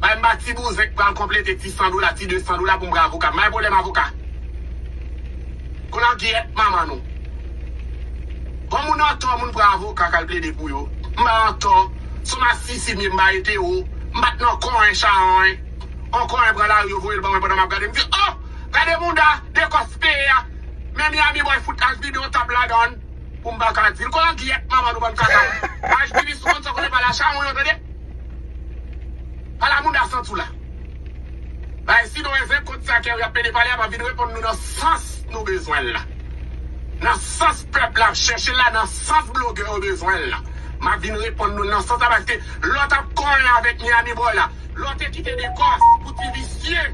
Bay m ba ti bouzen k pral konplete ti 100 dola, ti 200 dola pou m pran avoka. May pwoblèm avoka. Kou nan gyèt manman nou. Bon moun antò moun pran avoka k al plede pou yo. M pa antò. Si w masisi m ye m ba ete ou. M pa t nan konyen chawony. On konyen pran lari yo voye l ban mwen pandan m ap gade m di oh! Gade mounda dekòs peye a. Men Miami boy fout al vide on tab ladan l pou m pa ka di l. Kou nan gyèt manman nou bann kaka. Ajtivis nou konn sa w konnen pale a chawony ou tande. Pala mouda santi w la. Bay Sidon e zen kont sa Kerry ap plede pale a pa vin reponn nou nan sans nou bezwen l la. Nan sans pèp la ap chèche l la, nan sans blogè yo bezwen l la. M ap vin reponn nou l nan sans sa paske lè w t ap konyen avèk Miami Boy la, lè w te kite Dekòs pou ti visye,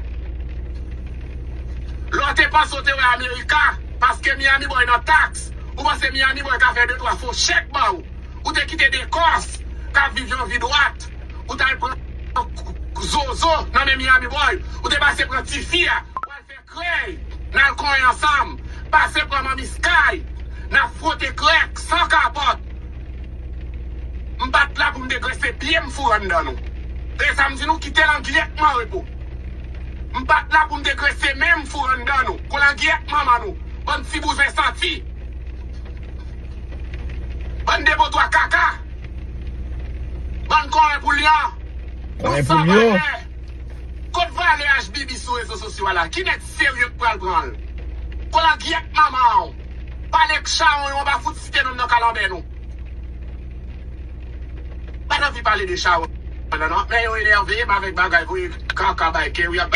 lè w te panse w te wè America paske Miami Boy nan taks, ou panse Miami Boy ka fè de twa fo chèk ba w. Ou te kite de kòs kap viv yon vi dwat ou tal pran zozo nan men Miami boy ou te pase pran tifi a pou al fè krèy nal konyen ansanm pase pran manmi sky nap frote krèk san kapòt m pat la poum te grese pyem foure anndan nou tande sam di nou kite langyèt nou anrepo m pat la poum te grese menm foure anndan nou kou langyèt manman nou bann ti bouzen santi. Bann depotwa kaka. Bann kòwen pou lyan. Nou sa valè. Kot valè ashbibi sou rezo sosyo a la. Ki nèg serye k pral pran l. Kolangyèt manman w. Pale k chawony w anba fout site nonm nan kalanbè nou. Pat anvi pale de chawony la nan. Men yo enève m avèk bagay voye kaka bay ke w y ap.